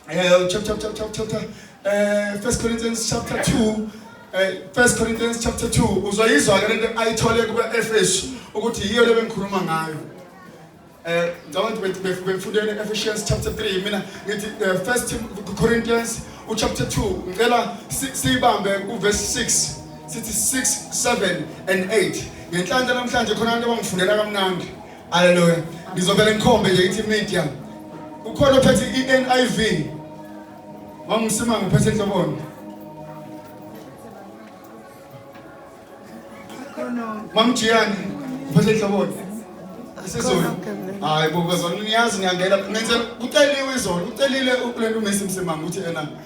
Uh, chapter, chapter, chapter, chapter. Uh, First Corinthians chapter 2. Eh, First Corinthians chapter 2 uzoyizwa ke lento ayithole kuba Efesu ukuthi yiyo le bengikhuluma ngayo eh ngicabanga ukuthi befundele Ephesians chapter 3 mina ngithi eh, First Corinthians u chapter 2 ngicela siyibambe ku verse 6 sithi 6 7 and 8 ngenhlanhla namhlanje khona abantu abangifundela kamnandi Haleluya. Ngizovele ngikhombe nje ithi media. Ukhona ophethe iNIV. Wangisimanga uphethe inhloboni. Mamjiyani uphethe inhloboni. Isizulu. Hayi bo bazona niyazi ngiyangena. Ngenze kuceliwe izolo. Ucelile ukulento umesi msimanga uthi ena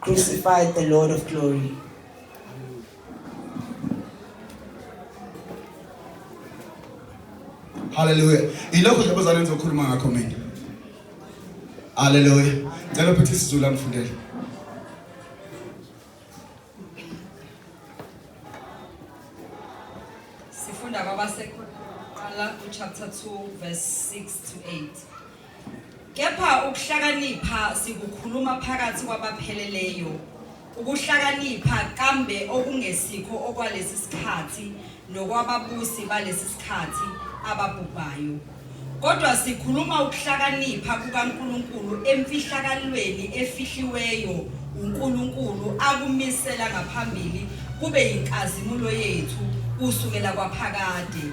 Crucified the Lord of glory. Hallelujah. Ilokho nje abazalwane ngizokhuluma ngakho mina. Hallelujah. Ngicela uphethe isiZulu angifundele. Sifunda kwabasekhona chapter 2 verse 6 to 8. Kepha ukuhlakanipha sikukhuluma phakathi kwabapheleleyo, ukuhlakanipha kambe okungesikho okwalesi sikhathi nokwababusi balesi sikhathi ababhubhayo. Kodwa sikhuluma ukuhlakanipha kukaNkulunkulu emfihlakalweni efihliweyo uNkulunkulu akumisela ngaphambili kube yinkazimulo yethu kusukela kwaphakade.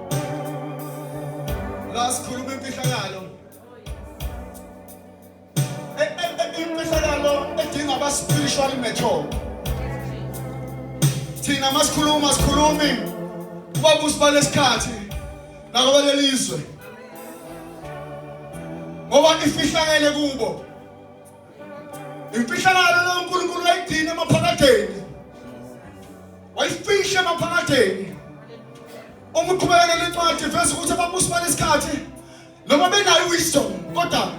la sikhuluma imfihlakalo E- e- e- imfihlakalo edinga aba-spiritual mature thina masikhuluma sikhulumi kubabusi balesikhathi nakwabelelizwe ngoba ifihlakele kubo imfihlakalo lo uNkulunkulu wayidini emaphakadeni wayifihla emaphakadeni uma uqhubekela incwadi vese ukuthi ababusi balesikhathi noma benayo wisdom kodwa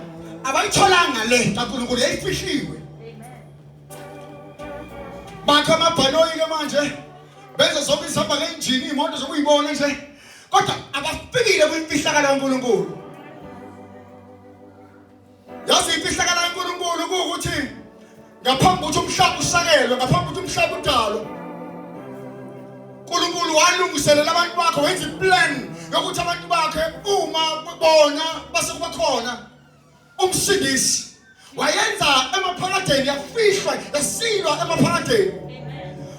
abayitholanga le kaNkulunkulu yayifihliwe bakha amabhanoyi ke manje benza zonke izihamba ngenjini iy'moto zokuyibona nje kodwa abafikile kwimfihlakalo kaNkulunkulu yazi imfihlakalo kaNkulunkulu ukuthi ngaphambi ukuthi umhlaba usakelwe ngaphambi ukuthi umhlaba udalwe uNkulunkulu walungiselela abantu bakhe wenza iplan yokuthi abantu bakhe uma bona base kuba khona umsindisi wayenza emaphakadeni yafihlwa yasilwa emaphakadeni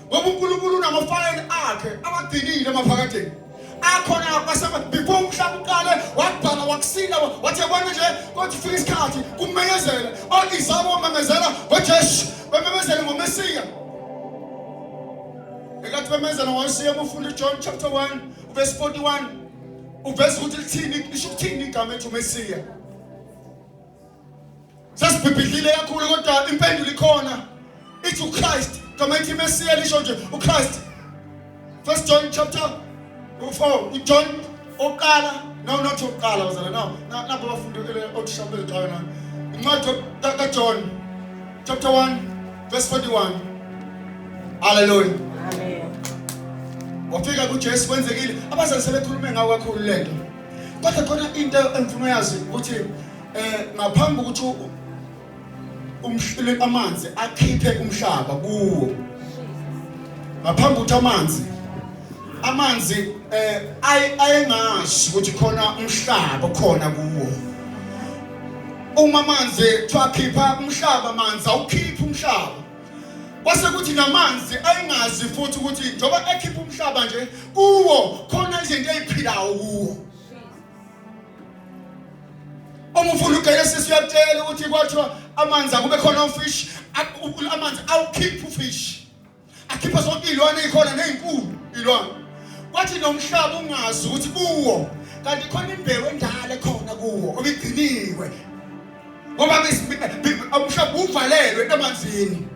ngoba uNkulunkulu unamafayela akhe abadinile emaphakadeni akhona kwasaba before umhlaba uqale wabhala wakusina wathi yabona nje kodwa ufika isikhathi kumemezela oizabo wamemezela ngojesu bememezele ngomesiya ekathi bememezela ngomesiya bufunda ujohn chapter 1 verse 41 uveza ukuthi lithini lisho ukuthini igama ethi umesiya sasibhibhidlile kakhulu kodwa impendulo ikhona ithi uChrist gama ithi iMesiya lisho nje uChrist first John chapter 4 uJohn oqala no not oqala bazala no nabo bafundi othisha beziqala na incwadi kaJohn chapter 1 verse 41 hallelujah amen wafika kuJesu kwenzekile abazali sebekhulume ngawo kakhulu lento kodwa khona into engifuna uyazi ukuthi eh ngaphambi ukuthi umhlile amanzi akhiphe umhlaba kuwo ngaphambi ukuthi amanzi amanzi eh ayengazi ukuthi khona umhlaba khona kuwo uma amanzi twakhipha umhlaba amanzi awukhiphi umhlaba kwase kuthi namanzi ayingazi futhi ukuthi njengoba ekhipha umhlaba nje kuwo khona izinto eziphilayo kuwo uma ufuna ugele sisi uyatshela ukuthi kwathiwa amanzi akube khona ufish amanzi awukhiphi ufish akhipha zonke iy'lwane ey'khona ney'nkulu iy'lwane kwathi nomhlaba ungazi ukuthi kuwo kanti khona imbewu endala ekhona kuwo obigciniwe ngoba umhlaba uvalelwe emanzini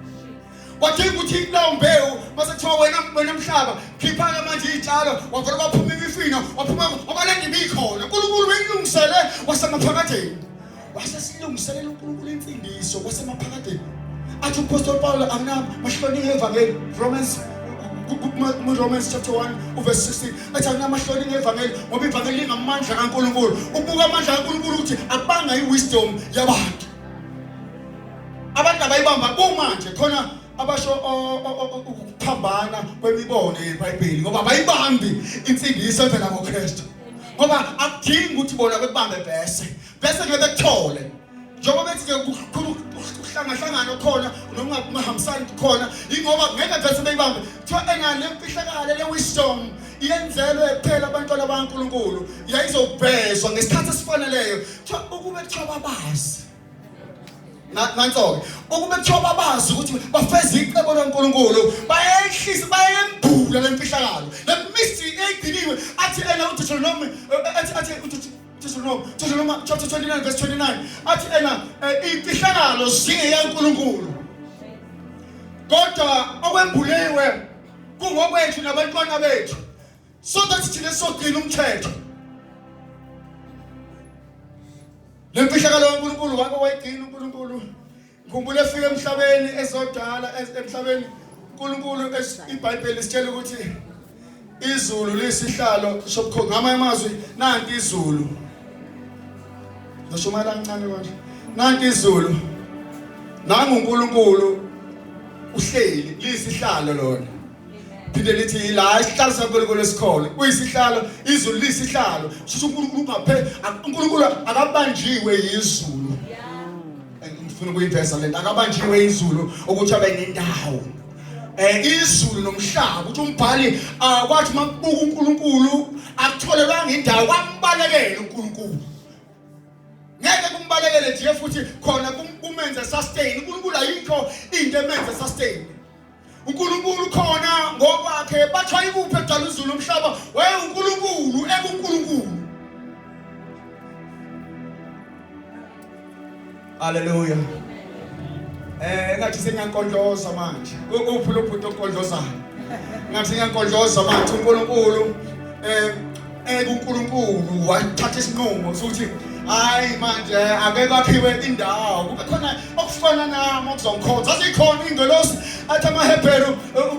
wadinga ukuthi kulawo mbewu mase kuthiwa wena wena mhlaba khipha-ke manje iy'tshalo wavele waphuma imifino waphuma wabalenda ibikhona unkulunkulu weyilungisele wasemaphakadeni wasesilungiselela unkulunkulu imfundiso wasemaphakadeni athi umpostoli pawulo akunami mahlonike evangeli romans Romans chapter 1 verse 16 athi anamahloni ngevangeli ngoba ivangeli lingamandla kaNkuluNkulu ubuka amandla kaNkuluNkulu ukuthi abanga iwisdom yabantu Abantu abayibamba kumanje khona abasho ukuphambana kwemibono yeBhayibheli ngoba bayibambi insindiso evela ngoKristu. Ngoba akudingi ukuthi bona bekubambe bese. Bese ngeke bekuthole. Njengoba bethi ke kukhulu ukuhlangahlangana khona nokungahambisani khona ingoba ngeke bese beyibambe. Kuthiwa engane lemfihlakale le wisdom yenzelwe kuphela abantwana baNkulunkulu yayizobhezwa ngesikhathi esifaneleyo. Kuthiwa ukube kuthiwa babazi nanso-ke ukube kuthiwa babazi ukuthi bafeza icebo likankulunkulu bayehlisa bayembula le mfihlakalo le mystery eyigciniwe athi ena udetronome eh, athi athi Deuteronomy, Deuteronomy chapter 29 verse 29 athi ena eh, imfihlakalo zingeyankulunkulu kodwa okwembuliwe kungokwethu nabantwana bethu so that thina sogcina umthetho lemfihlakalo kaNkulunkulu wake wayigcina uNkulunkulu ngikhumbula efika emhlabeni ezodala emhlabeni uNkulunkulu iBhayibheli sitshela ukuthi izulu lisihlalo sobukhona ngamanye amazwi nanti izulu ngishumayela kancane konje nanti izulu nangu uNkulunkulu uhleli lisihlalo lona phinde lithi yila isihlalo saNkulunkulu esikhona uyisihlalo izulu lisihlalo sho uNkulunkulu ungaphe uNkulunkulu akabanjiwe yizulu ngifuna ukuyiveza lento akabanjiwe izulu ukuthi abe nendawo eh izulu nomhlaba ukuthi umbhali akwathi makubuka uNkulunkulu akutholelanga indawo kwambalekele uNkulunkulu ngeke kumbalekele nje futhi khona kumenze sustain uNkulunkulu ayikho into emenze sustain uNkulunkulu khona ngokwakhe bathiwa ikuphi edala uzulu umhlaba waye uNkulunkulu ekuNkulunkulu Haleluya Eh ngathi sengiyankondoza manje uphi lo bhuti onkondozayo ngathi ngiyankondoza manje uNkulunkulu eh Eke uNkulunkulu wathatha isinqumo sokuthi hayi manje ake kwakhiwe indawo kube khona okufana nami okuzongikhonza zazikhona ingelosi athi amaHebheru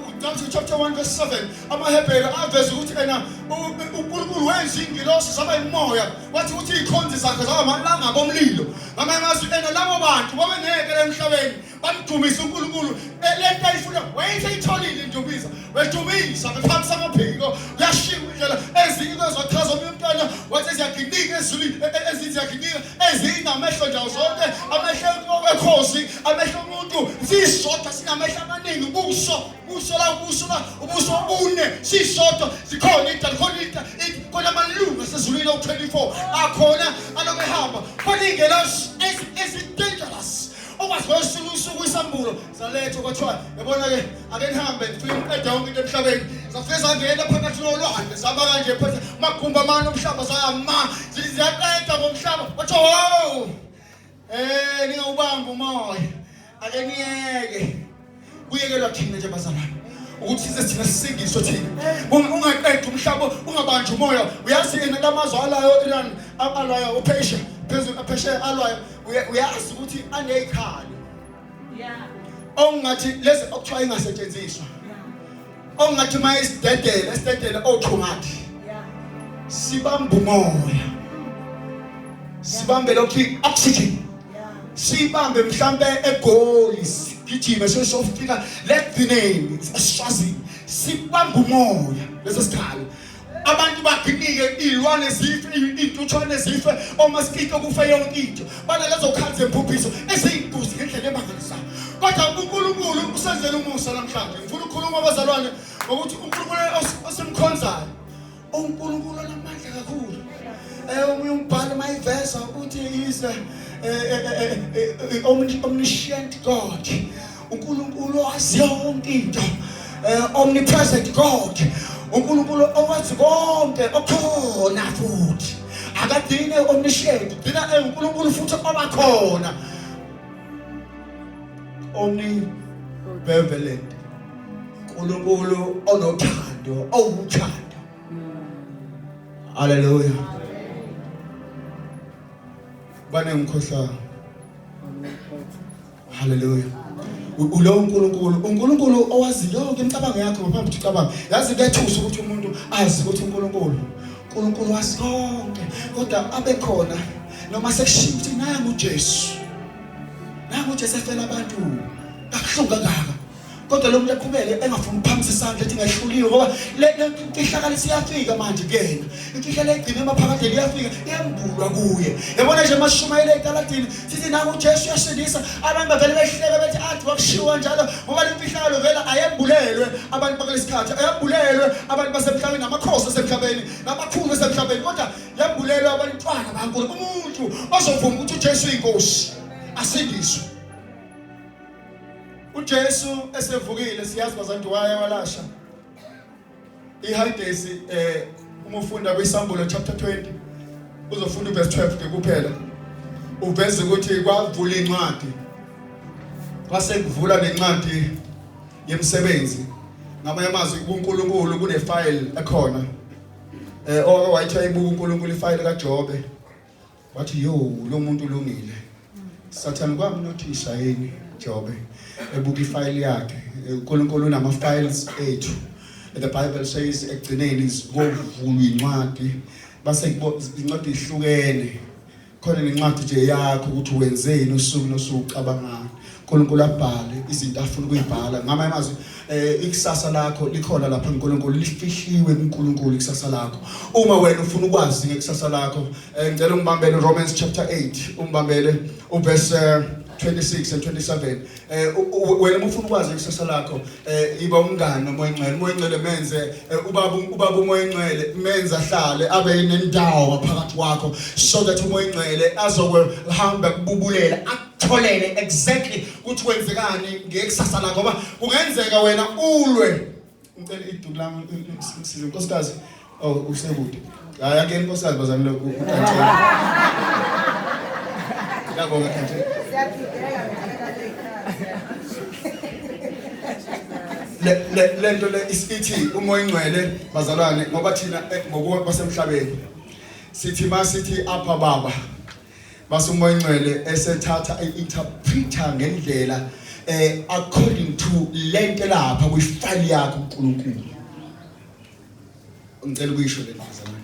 uCamsi chapter 1 verse 7 amaHebheru aveza ukuthi ena uNkulunkulu wenza ingelosi zaba imoya wathi ukuthi ikhonzi zakhe zaba amalanga bomlilo ngamanye amazwi ena labo bantu babeneke emhlabeni bamdumisa uNkulunkulu lento ayifuna wayethe itholile indumiso bedumisa bephakisa amaphiko kuyashiya indlela ezinye kwezochaza omunye umntwana wathi ziyaginika ezulwini e, e, ezinye ziyaginika ezinye inamehlo ndawo zonke amehlo ekhosi amehlo omuntu sisodwa sinamehlo amaningi ubuso ubuso la ubuso la ubuso obune sisodwa sikhona into khona into khona amalungu asezulwini awu-24 akhona alokehamba khona iy'ngelosi ezi-dangerous okwazi kwesinye usuku isambulo salethwa kwathiwa yabona-ke ake nihambe ngifike ngiqeda yonke into emhlabeni zafike zangena phakathi nolwandle zaba kanje phethe magumbi amane omhlaba zayama ziyaqeda ngomhlaba kwathiwa wow um ningawubambi umoya ake niyeke kuyekelwa thina nje bazalwane ukuthi size thina sisindiswe thina ungaqedi umhlaba ungabanjwa umoya uyazi yena lamazwe alayo iran alwayo uphesha phezulu aphesheya alwayo uyazi ukuthi aneyikhalo okungathi lezi okuthiwa ingasetshenziswa ongathi uma esidedela esidedela otsho ngathi sibamba umoya sibambe lokhu oxygen sibambe mhlambe egoli sigijime sesofika legcineni esishazini sibamba umoya lesi sikhala abantu baginike iy'lwane zife iy'ntuthwane zife omasikito kufe yonke into banalezo khali zemphuphiso eziyintuzi ngendlela emangalisayo kodwa unkulunkulu usenzela umusa namhlanje ngifuna ukukhuluma abazalwane ngokuthi unkulunkulu osimkhonzayo unkulunkulu onamandla kakhulu um omunye umbhalo uma iveza ukuthi is eh, eh, omniscient god uNkulunkulu owazi yonke into eh, omnipresent God uNkulunkulu owazi konke okhona futhi akadine omniscient ugcina enguNkulunkulu futhi obakhona omnibenevolent uNkulunkulu onothando owuthando haleluya bane ngikhohlayo haleluya ulo uNkulunkulu uNkulunkulu owazi yonke imicabango yakho ngaphambi ukuthi ucabange yazi kuyathusa ukuthi umuntu azi ukuthi uNkulunkulu uNkulunkulu wazi konke kodwa abe khona noma sekushiya ukuthi nangu uJesu nangu uJesu efela abantu kakuhlungu kangaka kodwa lomuntu eqhubeke engafuni ukuphamisa isandla ethi ngehluliwe ngoba le imfihlakalo siyafika manje kuyena imfihlakalo egcine emaphakadeni iyafika iyambulwa kuye yabona nje masishumayele etaladini sithi nangu ujesu uyasindisa abantu bavele behleke bethi athi wakushiwa njalo ngoba le mfihlakalo vele ayembulelwe abantu bakulesi khathi ayembulelwe abantu basemhlabeni namakhosi asemhlabeni namakhulu asemhlabeni kodwa yembulelwe abantwana bankulu umuntu ozovuma ukuthi ujesu uyinkosi asindiswe uJesu esevukile siyazi bazantu waya walasha ihayidesi eh uma ufunda kwisambulo chapter 20 uzofunda uverse 12 ke kuphela uveze ukuthi kwavula incwadi kwase kuvula nencwadi yemsebenzi ngamanye amazwi kuNkulunkulu kunefile ekhona eh oke wayithiwa ibuka uNkulunkulu ifile kaJobe Wathi yo lo muntu ulungile. Sathane kwamnothisa yini Jobe ebuka ifile yakhe. uNkulunkulu unama files ethu. The Bible says ekugcineni sikovulwa incwadi base incwadi ihlukene. Khona nencwadi nje yakho ukuthi wenzeni usuku nosuku ucabangani. uNkulunkulu abhale izinto afuna ukuyibhala ngama amazwi eh ikusasa lakho likhona lapha uNkulunkulu lifihliwe kuNkulunkulu ikusasa lakho uma wena ufuna ukwazi ngekusasa lakho eh, ngicela ungibambele Romans chapter 8 ungibambele uverse 26 and 27 eh wena ufuna ukwazi ikusasa lakho eh iba umngani nomoya ngcwele umoya ngcwele menze eh, ubaba ubaba umoya ngcwele menze ahlale abe nendawo ngaphakathi kwakho so that umoya ngcwele azokuhamba kububulela tholele exactly ukuthi kwenzekani ngekusasa lakho ngoba kungenzeka wena ulwe ngicela iduku lami ngisize inkosikazi oh usekude hayi ake inkosikazi bazami lokhu ukanjena ngiyabonga kanje le le nto le isithi umoya ingcwele bazalwane ngoba thina eh, ngokwasemhlabeni sithi masithi apha baba Mase umoya ongcwele esethatha i-interpreter ngendlela eh according to lento lapha kwi-file yakhe uNkulunkulu. Ngicela ukuyisho le ndazana.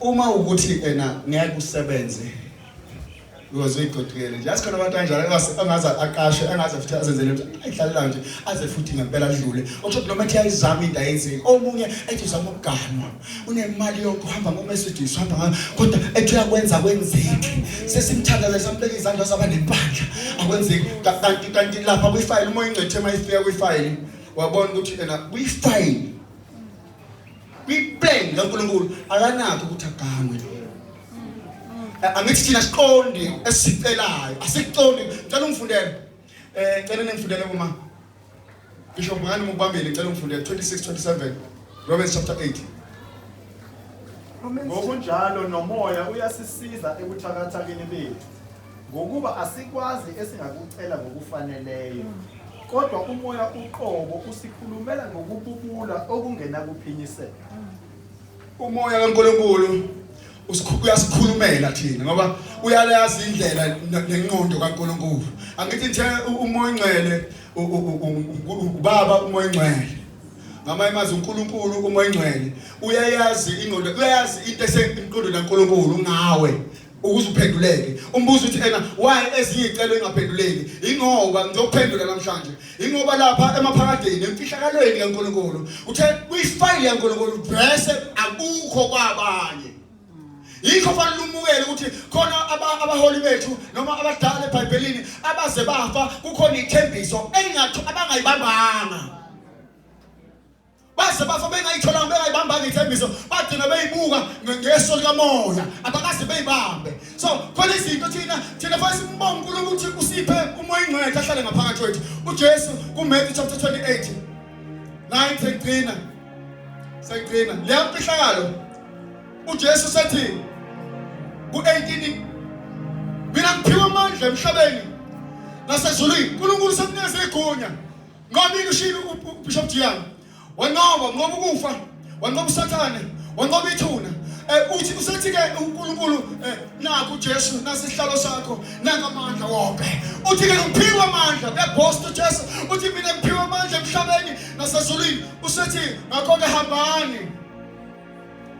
Uma ukuthi ena ngeke usebenze uyoze igodukele nje asikhona abantu kanjalo angaze aqashe angaze futhi azenzele ukuthi ayihlalela nje aze futhi ngempela adlule okusho ukuthi noma ethi ayizama into ayenzeki omunye ethi uzama ukuganwa unemali yonke uhamba ngoMercedes uhamba ngayo kodwa ethi uyakwenza kwenzeki sesimthandana sambeka izandla saba nempandla akwenzeki kanti kanti lapha kwifayile uma ingcethe uma ifika kwifayile wabona ukuthi ena kwifayile kwiplan kaNkulunkulu akanakho ukuthi aganwe angithi thina siqondi esicelayo asiqondi ngicela ungifundele eh ngicela ningifundele uma Bishop ngani mubambile ngicela ungifunde 26 27 Romans chapter 8 Ngokunjalo nomoya uyasisiza ekuthakathakeni bethu ngokuba asikwazi esingakucela ngokufaneleyo kodwa umoya uqobo usikhulumela ngokububula okungenakuphinyiseka Umoya kaNkulunkulu uyasikhulumela thina ngoba uyalazi indlela nenqondo kaNkulunkulu. Angithi nje umoya ingcwele ubaba umoya ingcwele. Ngamanye amazwi uNkulunkulu umoya ingcwele uyayazi ingqondo uyayazi into esenkundweni kaNkulunkulu ngawe. ukuze uphenduleke umbuzo uthi ena why ezinye icelo ingaphenduleki ingoba ngizokuphendula namhlanje ingoba lapha emaphakadeni emfihlakalweni kaNkulunkulu uthe kuyifile yaNkulunkulu bese akukho kwabanye yikho fanele umukele ukuthi khona abaholi bethu noma abadala eBhayibhelini abaze bafa kukhona ithembiso engathi abangayibambanga baze bafa bengayitholanga bengayibambanga ithembiso bagcina beyibuka ngeso likamoya abakaze beyibambe so khona izinto thina thina fanele simbonge uNkulunkulu ukuthi usiphe umoya ingcwele ahlale ngaphakathi kwethu uJesu kuMatthew chapter 28 9 sekugcina sekugcina leya mfihlakalo uJesu sethi ku-18 mina ngiphiwe amandla emhlabeni nasezulwini uNkulunkulu sekunikeza igunya Nqobile ushilo uBishop Jiyana. Wanqoba ngoba ukufa, wanqoba uSathane, wanqoba ithuna. Eh uthi usethi ke uNkulunkulu eh naku Jesu nasihlalo sakho nanga amandla wonke. Uthi ke ngiphiwa amandla bebosto Jesu. Uthi mina ngiphiwa amandla emhlabeni nasezulwini. Usethi ngakho ke hambani.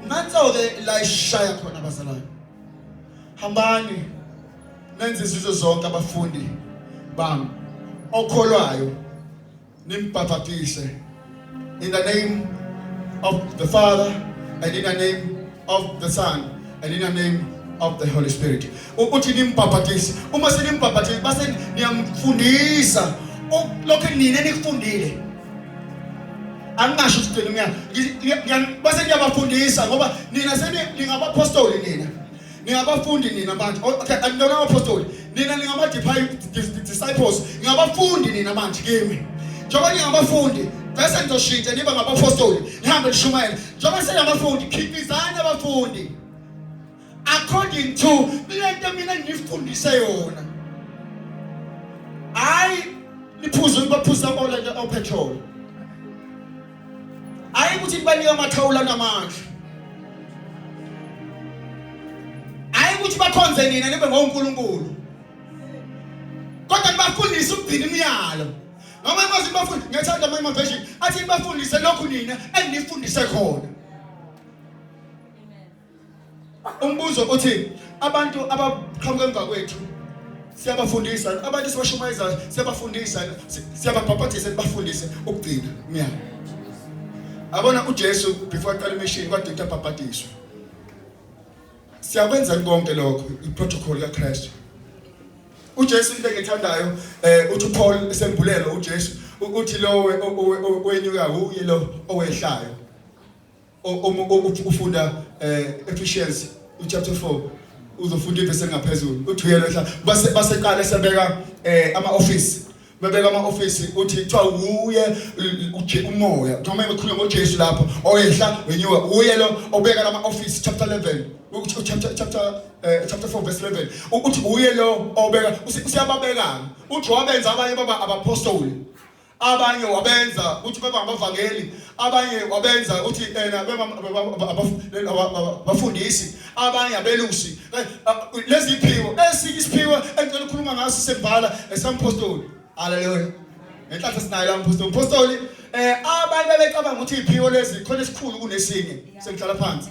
Nanso ke la ishaya khona bazalwane. Hambani. nenze izizo zonke abafundi bami okholwayo nimbhaphathise in the name of the father and in the name of the son and in the name of the holy spirit ukuthi nimbhaphathise uma senimbhaphathise base niyamfundisa lokho nina enikufundile angingasho ukuthi mina base ngiyabafundisa ngoba nina seni ningabapostoli nina ningabafundi nina manje oh, okay anilona apostoli nina ningama disciples ningabafundi nina manje kimi njengoba ningabafundi bese nizoshintsha niba ngabapostoli nihambe nishumayela njengoba senabafundi khipizani abafundi according to lento mina ngifundise yona hayi niphuze ukubaphuza ola nje opetrol hayi ukuthi nibanika amathawula namandla hayi ukuthi bakhonze nina nibe ngonkulunkulu kodwa nibafundise ukugcina imiyalo noma imazi nibafundise ngiyathanda amanye amaveshini athi nibafundise lokhu nina enginifundise khona Umbuzo uthi abantu abaqhamuka emva kwethu siyabafundisa abantu sibashumayeza siyabafundisa siyababhabhadisa sibafundise ukugcina umyalo abona uJesu before aqala imishini kade ukuthi abhabhadiswe siyakwenza konke lokho iprotocol kaKristu uJesu into engithandayo eh uthi uPaul esembulelo uJesu ukuthi lowe owenyuka uye lo owehlayo ufunda eh Ephesians chapter 4 uzofunda ivese ngaphezulu uthi uyena mhla base baseqala esebeka eh ama office bebeka ama office uthi kuthiwa wuye uje umoya noma ekhuluma ngoJesu lapho oyehla wenyuka uye lo obeka lama office chapter 11 ukuthi chapter chapter eh, chapter 4 verse 11 ukuthi uye lo obeka usiyababekana uthi wabenza abanye baba abapostoli abanye wabenza ukuthi bebe abavangeli abanye wabenza ukuthi ena bafundisi abanye abelusi eh, eh, lezi iphiwo esiphiwo engicela ukukhuluma ngaso sembala esampostoli haleluya ngenhlanhla sinayo la mpostoli mpostoli eh abanye bebecabanga ukuthi iphiwo lezi khona esikhulu kunesinye sengihlala phansi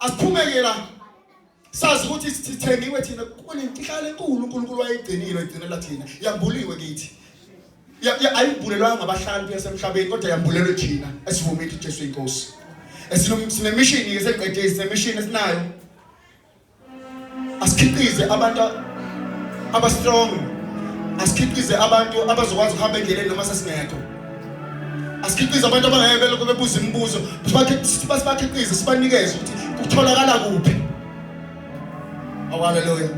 asiphumekela sazi ukuthi sithengiwe thina kunenhlala enkulu uNkulunkulu wayegcinile egcinela thina yambuliwe kithi ayibulelwanga ngabahlali yasemhlabeni kodwa yambulelwe thina esivuma ithi Jesu inkosi esinomishini ke seqedile sinemishini esinayo asikhiqize abantu aba strong asikhiqize abantu abazokwazi ukuhamba endleleni noma sasingekho asikhiqize abantu abangeke belokhu bebuza imibuzo sibakhiqize sibanikeze ukuthi kutholakala kuphi awaleluya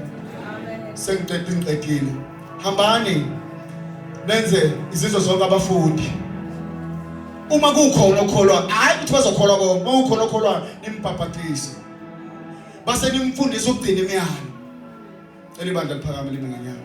sengiqeda ingiqedile hambani nenze izizwe zonke abafundi uma kukhona okholwa hayi ukuthi bazokholwa konke uma kukhona okholwayo nimbhabhadise base nimfundisa ukugcina imiyalo. Cela ibandla liphakame lime ngenyawo.